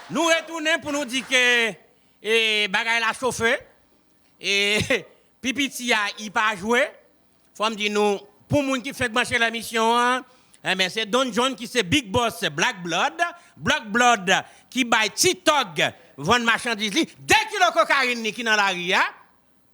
Nou retounen pou nou di ke bagay la chofe, e pi piti a i pa jwe. Fò m di nou, pou moun ki fenk branche nan emisyon an, enben se Don John ki se Big Boss Black Blood, Block Blood ki bay ti tòg vann machandiz li, 2 kilo kokayin li ki nan lari a.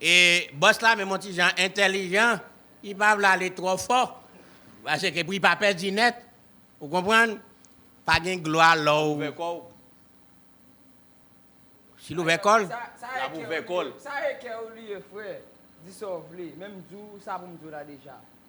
E bòs la menm on ti jan entèlijan, li pa vle ale twò fò, paske pou li pa pèdi nèt, ou konprann, pa gen glwa lè w. Ouvè kò w. Si l ouvè kò l. Sa e kè w liye frè, di sa w vle, men m di w sa pou m di w la deja.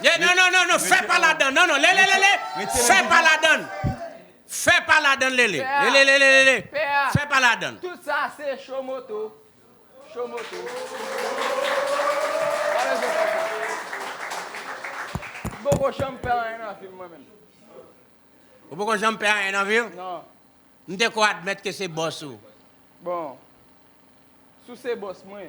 Ye non non non non fè pa ladan non non lele lele fè pa ladan fè pa ladan lele lele lele lele fè pa ladan. Tout sa se cho moto cho moto pa bezwen fè sa m poko janm fè anyen nan vi m mwen menm. Ou poko janm fè anyen nan vi w? Non. M te ko admèt ke se bòs ou. Bon sou se bòs mwen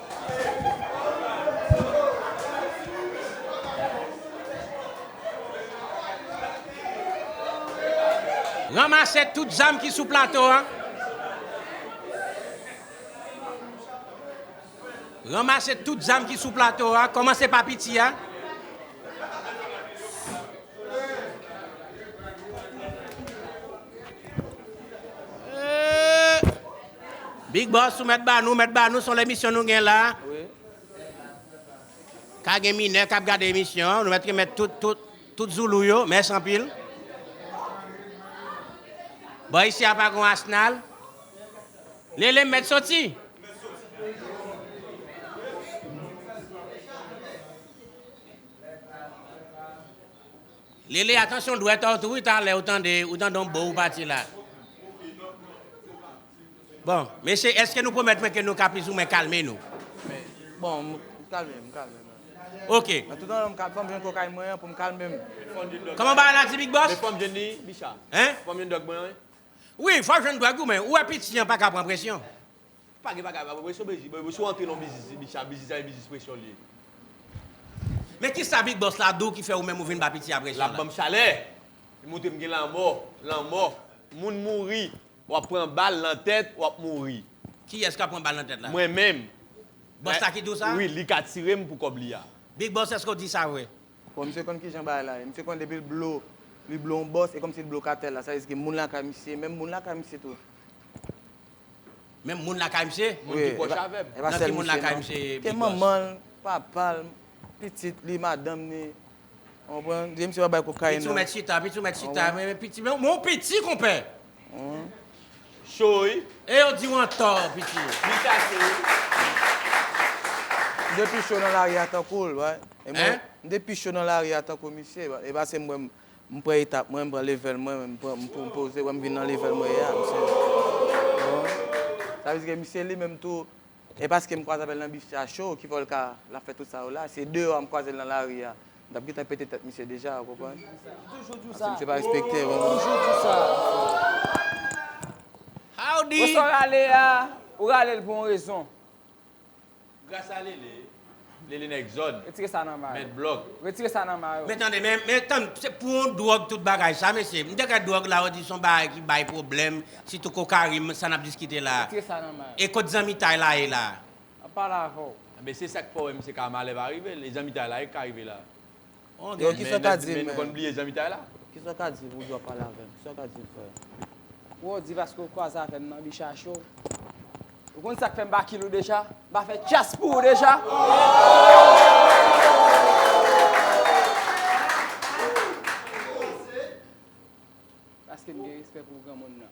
Ranmase tout zam ki sou plato a. Ranmase tout zam ki sou plato a. Komanse pa piti a. Big boss ou mèt ba nou, mèt ba nou son lemisyon nou gen la. Ka gen minè kap gade emisyon an, nou mèt remèt tout tout tout zoulou yo, mèsi anpil. Bon isi a pa gon asnal. Lele m mèt soti. Lele atansyon dwèt a ou tou wi talè ou tande ou tande yon bo ou pati la. Bon mesye eske nou pwomèt mwen ke nou ka pliz ou mwen kalme nou. Bon m kalme m kalme m. Ok. Nan tout andan m kalme fòm jwenn kokay mwen an pou m kalme m. Kòman bagay la di big boss? Men fòm jwenn li Bicha. Hein? Fòm jwenn dwòg mwen an wi. Wi fòw jwenn dwòg ou men ou wè piti an paka pran presyon. Pa gen bagay baba presyon bgy bgy si w antre nan yon biznis li bicha biznis la yon biznis presyon li ye. Men kisa big boss la diw ki fè ou menm ou vin ba piti a presyon la. Lap banm chalè. Li montre m gen lanmò, lanmò. Moun mouri. Wap pran bal nan tèt, wap mouri. Kiyès kap pran bal nan tèt la? Mwen menm. Boss la ki diw sa? Wi, li ka tirem pou kòb li a. Big boss eske w di sa vre? Bon misye konn kijan bagay la ye. Misye konn depi l blo, li blo yon boss e kòmsi li blo katèl la. Sa vle di ke moun lakay misye, menm moun lakay misye tou. Menm moun lakay misye, moun ki pwòch avèm. Nan ki moun lakay misye bigòs? Ke manman l, papa l, pitit li, madanm ni. Ou konprann? Depi misye pa bay kokayin nan. Pitit ou mèt chita, pitit ou mèt chita. Mwen menm piti, mwen yon piti konpè. Cho wi. E yo di w antò piti. Li chache wi. M te pi cho nan lari a tankou l. M te pi cho nan lari a tankou misye. E pa se m wè m. M pran etap mwen, m pran level mwen, m poze wè m vin nan level mwen ye a misye. Sa vle di ke misye li menm tou e paske m kwaze avè l nan bif sa cho ki fè l ka l ap fè tout sa yo la. Se deyò a m kwaze l nan lari a, m t ap gentan pete tèt misye deja ou konprann. Paske misye pa respekte m. Howdy! Wè sa w rale a, ou rale l pou yon rezon. Gras a Lele, Lele nèg zòn, mèt blòg. Men tande, men tann, se pou yon dwòg tout bagay sa mesye? M te gad dwòg la ou di son bagay ki bay pwoblèm, sitou kokarin, sa n ap diskite la. E kot zanmitay la ye la? Anben se sa k fè w wè misye ka malè pa rive l, e zanmitay la ye k ka rive la? Yo kisa w ka di men. Men nou konn bliye zanmitay la. Kisa w ka di pou w di wap pale avè m? Kisa w ka di m frè? Bro, di paske w kwaze avè m nan Bicha Show. Ou konn sak fè m pa kill ou deja? M pa fè tchyas pou ou deja? Paske m gen respè pou granmoun nan.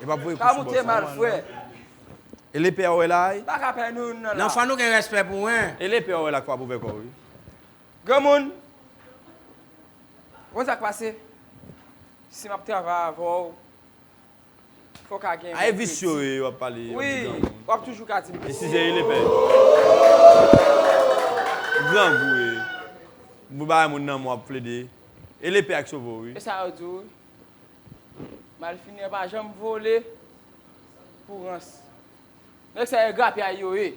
Yo pap voye kou sou boss la non. Ele pè a ou wè la ay. Nan fwa nou gen respè pou hein. Ele pè a ou wè la kwab ouvè kòw wi. Granmoun Ou konn sak pase si map travay avèw fò ka gen yon kredi. Ae visye wi wap pale yon ti granmoun. Wi wap toujou ka dim visye. Esize ele pè. Ou grangou wi. Ou vle bay moun nanm ou wap plede. Ele pè a ki sove w wi. Esa yo di w wi. Malfini an pa janm vole pou rans. Nèg sa yo grapyay yo ye.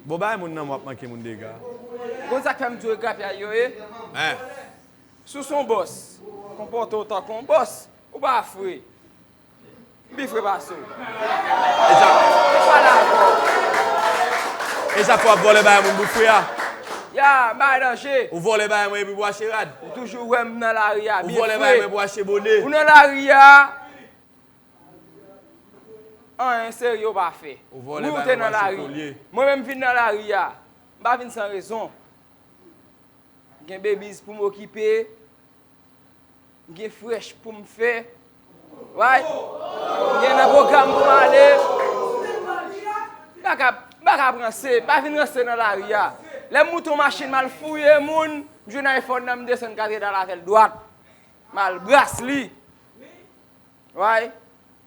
Bon bay moun nanm wap manke moun dega. Ou konn sak fèm di yo grapyay yo ye? Sou son bòs, konpòte w tankou yon bòs, ou pa fre. M pi fre pase w. E zap. Mwen pa dakò. E zap wap vòlè bagay moun bout fre a. Ya, m bay danje. Ou vòlè bagay mwen epi pou achte rad. Ou toujou wè m nan lari a byen fre. Ou vòlè bagay mwen pou achte bone. Ou nan lari a, anyen serye ou pa fè. Ou vòlè bagay mwen pou achte kolye. Mwen menm m vin nan lari a. M pa vin san rezon. Gen babies pou m okipe. M gen frèch pou m fè. M gen nan pwogram pou m ale. M pa ka ap ranse. M pa vin ranse nan lari a. Lè m moute yon machin m al fouye moun, m jwenn ayfòn nan m desann katedral avè l dwat. M al bras li.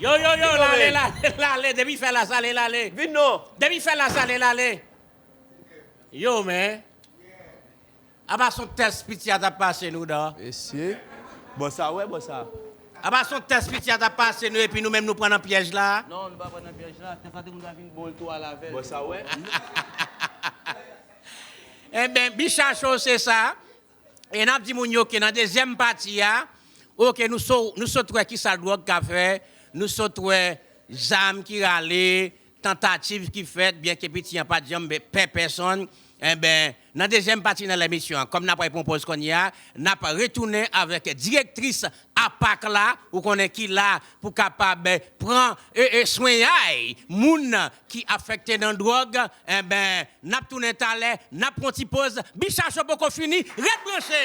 Yo yo yo lale lale lale depi fè la sale lale vin non depi fè la sale lale yo men aba son tès piti a tap pase nou dan mesye bon sa wè bon sa. Aba son tès piti a tap pase nou epi nou menm nou pran nan pyèj la. Non nou pa pran nan pyèj la tès la te konn vin bon l tou al avèl bon sa wè. Enben bicha cho se sa e nap di moun yo ke nan dezyèm pati a ok nou so nou sot wè kisa dwòg ka fè, nou sot wè zam ki rale, tantativ ki fèt byen ke piti an pat janm pè pèsonn enben nan dezyèm pati nan lèmisyon an kòm nap pral pran yon pòz kounya nap retounen avèk direktris a pac la ou konnen ki la pou kapab pran swenyay moun ki afekte nan drog enben nap tounen talè nap pran ti poz bicha show poko fini ret branche.